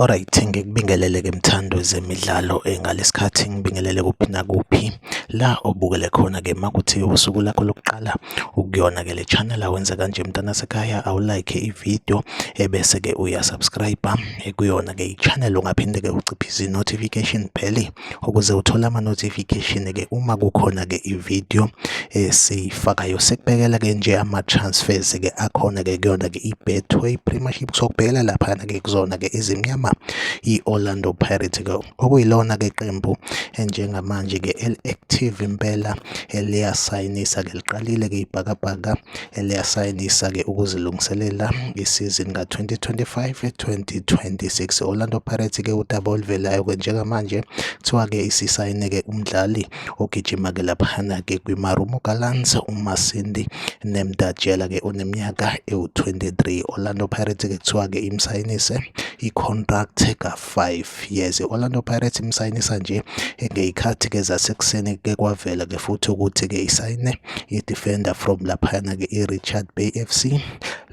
Alright, ngikubingelele-ke mthandi wezemidlalo ngalesi khathi ngibingelele kuphi nakuphi la obukele khona-ke makuthi usuku lakho lokuqala ukuyona-ke le channel awenze kanje mntana sekhaya awulike ividiyo ebese-ke uyasubscribe-a kuyona-ke i-channel ungaphinde-ke uciphe izi-notification bheli. ukuze uthole ama-notification-ke uma kukhona-ke i-video esiyifakayo sekubekela-ke nje ama-transfers-ke akhona-ke kuyona-ke i-betway premiership sokubhekela laphana-ke kuzona-ke izimnyama i-orlando pirate-ke okuyilona-ke qembu njengamanje-ke eli-active impela eliyasayinisa-ke liqalile-ke ibhakabhaka eliyasayinisa-ke ukuzilungiselela isizini ka-2025-2026. Orlando Pirates-ke udaba oluvelayo-ke njengamanje kuthiwa-ke isisayine-ke umdlali ogijima-ke laphana-ke kwiMarumo Gallants uMasindi Nemdatshela-ke oneminyaka ewu-23. Orlando Pirates-ke kuthiwa-ke imsayinise i-contract ka-5 5 years Orlando Pirates imsayinisa nje ngeyikhathi ke zasekuseni ke kwavela ke futhi ukuthi ke isayine i-defender from laphayana ke i-Richard Bay FC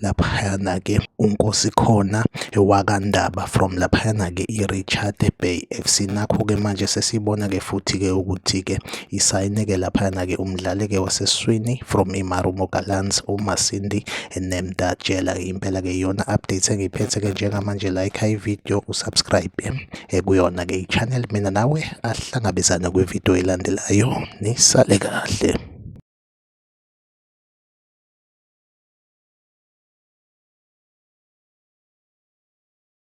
laphayana ke unkosi khona ewakandaba from laphayana ke i-Richard Bay FC nakho ke manje sesibona ke futhi ke ukuthi ke isayineke laphayana-ke umdlali-ke waseswini from imarumo galans umasindi nemda tshela impela-ke iyona update engiphethe-ke njengamanje like ivideo usubscribe kuyona-ke i-channel mina nawe ahlangabezane kwivideo elandelayo nisale kahle